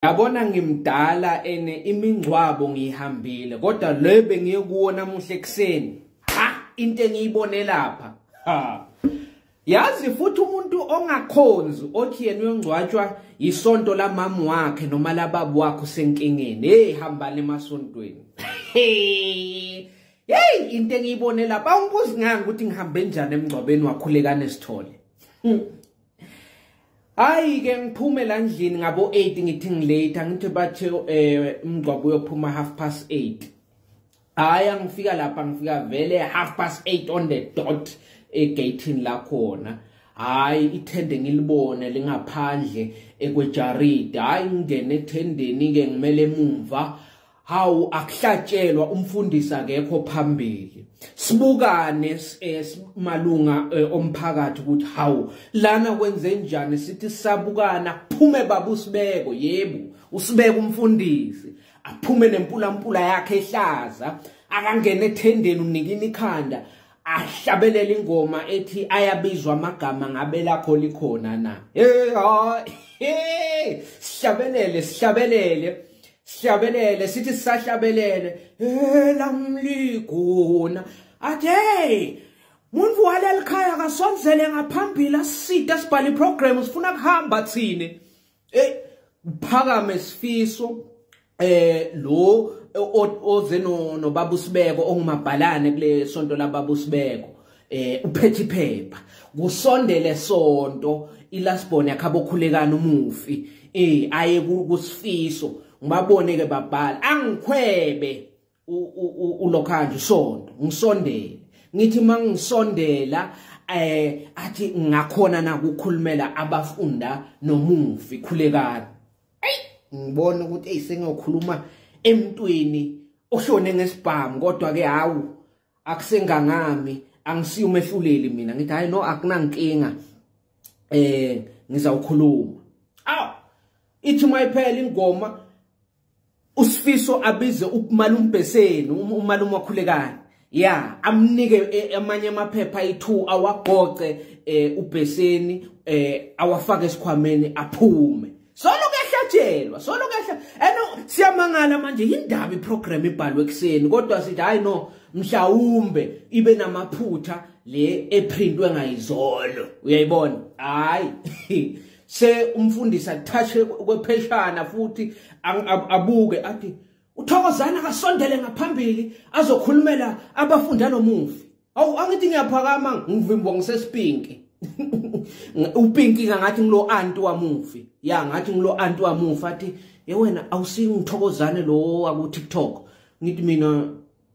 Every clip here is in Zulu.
Yabona ngimdala ene imingcwabo ngiyihambile kodwa le bengiye kuwo namuhla ekuseni. Ha into engiyibone lapha. Ha. Yazi futhi umuntu ongakhonzi othi yena uyongcwatshwa isonto lamamu wakhe noma lababu wakhe usenkingeni. Hey hambani emasontweni. Hey. Hey into engiyibone lapha ungibuzi nganga ukuthi ngihambe njani emngcwabeni wakhulekane sithole. Hmm. hayi ke ngiphume la ndlini ngabo 8 ngithi ngilate ngithi bathe eh umgcwabo uyophuma half past 8 hayi angifika lapha ngifika vele half past 8 on the dot egatini la khona hayi ithende ngilibone lingaphandle ekwejaridi hayi ngingene ethendeni ke ngimele emumva hawu akuhlatshelwa umfundisi akekho phambili sibukane eh, malunga eh, omphakathi ukuthi hawu lana kwenze njani sithi sabukana phume baba usibeko yebo usibeka umfundisi aphume nempulampula yakhe ehlaza akangena ethendeni unikina ikhanda ahlabelele ingoma ethi ayabizwa amagama ngabe lakho likhona na hey sihlabelele sihlabelele sihlabelele sithi sisahlabelele elamliguna athe muntu waleli khaya kasonzele ngaphambili aside sibhale iprogram sifuna kuhamba thini eh phakame sifiso eh lo oze no nobaba usibeko ongumabhalane kule sonto lababa usibeko eh uphethe iphepha kusondele sonto ilasbon yakhabokhulekana umufi eh aye kusifiso ngibabone ke babhala angikhwebe ulokhanje sonto ngisondele ngithi mangisondela eh athi ngakhona na kukhulumela abafunda nomufi khulekani hey ngibona ukuthi eyisengiyokhuluma emntwini oshone ngesibhamu kodwa ke hawu akusengangami angisiyo umehluleli mina ngithi hayi no akunankinga eh ngizawukhuluma aw ithi mayiphela ingoma usifiso abize umalumbheseni um-, umalume wakhulekani ya amnike eh, amanye amaphepha ayi2 awagqoqe eh, ubheseni eh, awafake esikhwameni aphume solo kuyahlatshelwa solo kuyahla eno siyamangala manje yindaba iprogram ibhalwe ekseni kodwa sithi hayi no mhlawumbe ibe namaphutha le eprintwe ngayizolo uyayibona hayi se umfundisi athashe kwepheshana futhi abuke athi uthokozana akasondele ngaphambili azokhulumela abafunda nomufi awu angithi ngiyaphakama ngivimbwa ngisesipinki upinki ngathi ngilo anti wamufi ya ngathi ngilo anti wamufi athi ye wena awusingithokozane lo waku TikTok ngithi mina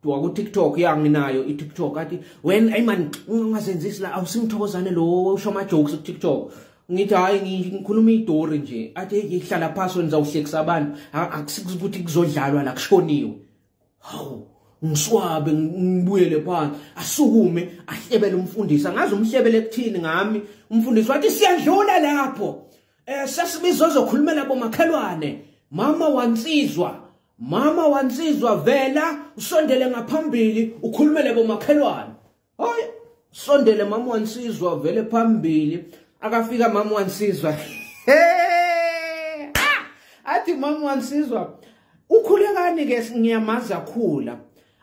waku TikTok ya nginayo i TikTok athi when ay man ungazenzisi la awusingithokozane lo usho ama jokes ku TikTok ngithi hayi ngikhuluma idori nje athi ngihlala phansi wenza uhlekisa abantu akusikuthi kuzodlalwa la kushoniwe hawu ngiswabe ngibuyele phansi asukume ahlebele umfundisi angazi umhlebele kuthini ngami umfundisi wathi siyadlula lapho eh sesibizo zokhulumela bomakhelwane mama wansizwa mama wansizwa vela usondele ngaphambili ukhulumele bomakhelwane Hoy sondele mama wansizwa vele phambili akafika mama wansizwa. Hey! Ah! Athi mama wansizwa ukhulekani ke ngiyamazi akhula.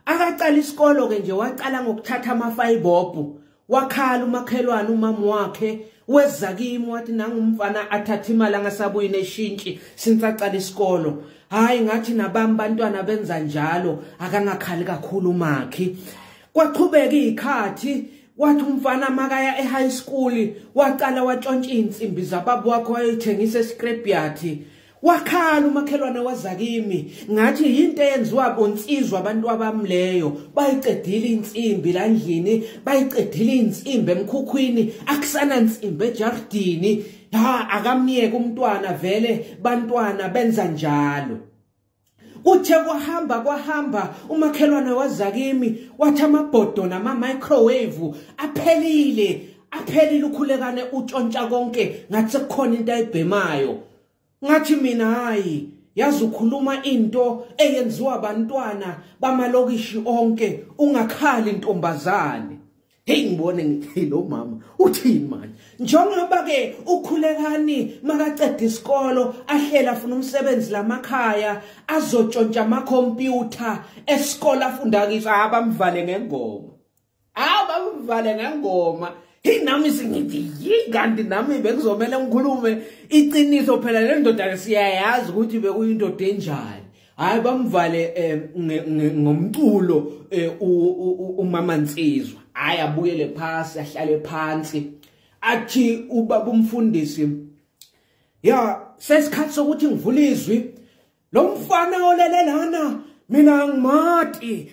Akaqala isikolo ke nje waqala ngokuthatha amafayibobhu wakhala umakhelwane umama wakhe weza kimi wathi nangumfana athatha imali angasabuyi neshintshi since aqala isikolo hayi ngathi nabami bantwana benza njalo akangakhali kakhulu umakhi kwaqhubeka izikhathi wathi umfana makaya ehigh school waqala watshontsha insimbi zababa wakho wayethengisa escrapyard wakhala umakhelwane wazakimi ngathi yinto eyenziwa bonsizwa abantu abamleyo bayiqedile insimbi landlini bayiqedile insimbi emkhukhwini akusana nsimbi ejardini ha akamyeke umntwana vele bantwana benza njalo Kuthe kwahamba kwahamba umakhelwane wazakimi wathi amabhodo nama microwave aphelile aphelile ukhulekane utshontsha konke ngathi sekukhona into ayibhemayo ngathi mina hayi yazi ukhuluma into eyenziwa abantwana bamalokishi onke ungakhali intombazane Hey ngibone ngithi lo mama uthini manje njengoba ke ukhulekani makaqeda isikolo ahlela afuna umsebenzi lamakhaya azotshontsha ama computer esikole afunda kiso abamvale ngengoma abamvale ngengoma hey nami singithi yikanti nami bekuzomela ngikhulume iqiniso phela le ndoda siyayazi ukuthi bekuyindoda enjani hayi bamvale eh, ngomculo eh, umama Nsizwa hayi abuyele phasi ahlale phansi athi ubaba umfundisi ya sesikhathi sokuthi ngivule izwi lo mfana olele lana mina ngimati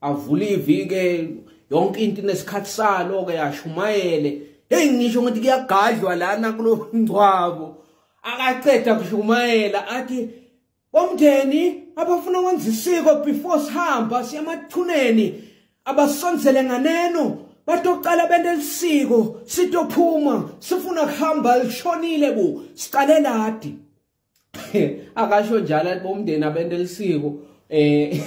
avule ivike yonke into inesikhathi salo ke yashumayele hey ngisho ngithi kuyagadlwa lana kulo ngcwabo akaceda kushumayela athi bomndeni abafuna ukwenza isiko before sihamba siyamathuneni abasonzele nganeno batocala bente lisiko sitophuma sifuna kuhamba lishonile bu siqale ladi akasho njalo athi bomndeni abenelisiko eh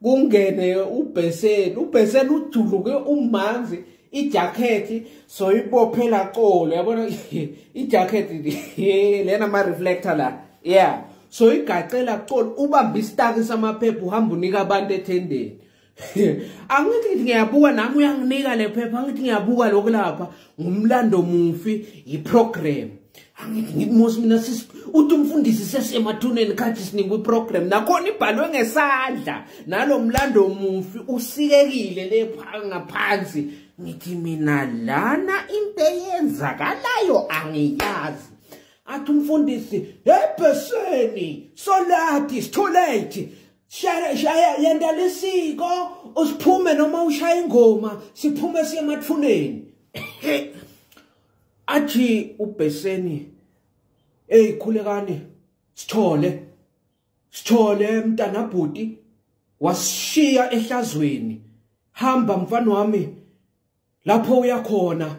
kungene ubheseni ubheseni ujuluke umanzi ijakhethi soyibophela colo yabona ijakhethi lena ama-reflector la yeah soyigacela colo ubambe isitaki samaphepha uhamba unika abantu ethendeni angithi ngithi ngiyabuka nami uyanginika le phepha angithi ngiyabuka lokhu lapha ngumlando mufi yiprogram angithi ngithi mos mina uthi umfundisi sesemathuneni khathi sinikwa iprogram nakhona ibhalwe ngesandla nalo mlando mufi usikekile le ngaphansi ngithi mina lana into eyenzakalayo angiyazi athi umfundisi ebheseni solati sitholethi shaya shaya yenta lisiko usiphume noma ushaya ingoma siphume siye emathuneni athi ubheseni hey khulekani sithole sithole mntana bhuti wasishiya ehlazweni hamba mfana wami lapho uyakhona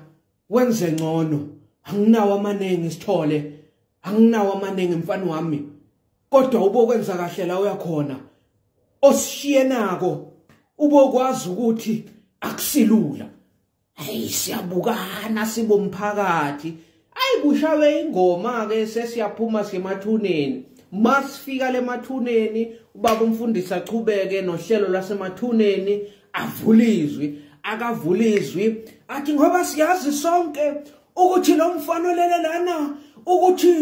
wenze ngcono anginawo amaningi sithole anginawo amaningi mfana wami kodwa ubokwenza kahle la uyakhona osishiye nako ubokwazi ukuthi akusilula hey siyabukana sibomphakathi ayi kushawe ingoma ke sesiyaphuma semathuneni masifika lemathuneni ubaba umfundisi achubeke nohlelo lasemathuneni avulizwi akavulizwi athi ngoba siyazi sonke ukuthi lo mfana olele lana ukuthi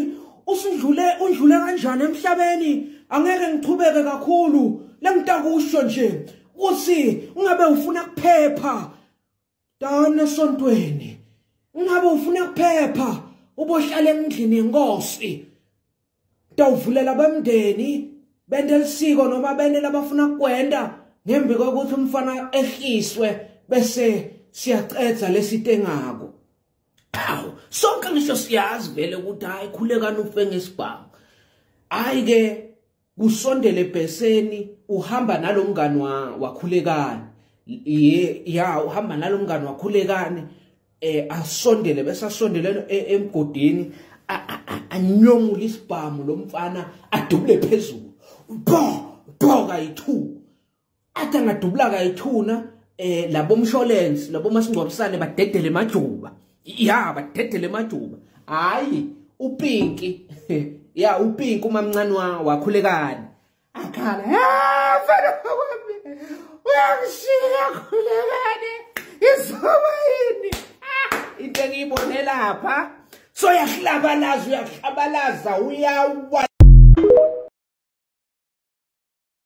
usudlule undlule kanjani emhlabeni angeke ngichubeke kakhulu lengitakusho nje ukuthi ungabe ufuna kuphepha Dana esontweni. Ungabe ufuna ukuphepha ubohlala endlini yenkosi. Tawuvulela bemndeni bende lisiko noma bende labafuna kwenda ngembi kokuthi umfana ehliswe bese siyaqedza lesitengako. Aw, sonke ngisho siyazi vele ukuthi hayi khulekani ufe ngesibhamu. Hayi ke kusondele bheseni uhamba nalomngani wakhulekani ye ya uhamba nalomngani wakhulekani eh asondele bese asondelene e, emgodini anyomula isibhamu lomfana adubule phezulu bo bo kayi2 athi angadubulaka ithuna eh labo mshwalense labo masingcwabisane badedele majuba ya badedele majuba hayi upinki ya upinki umamncane wakhulekani akhala ha mfana wami uyangishiya khulekani izoba yini ah, into engiyibone lapha so yahlabalaza uyahlabalaza uyawa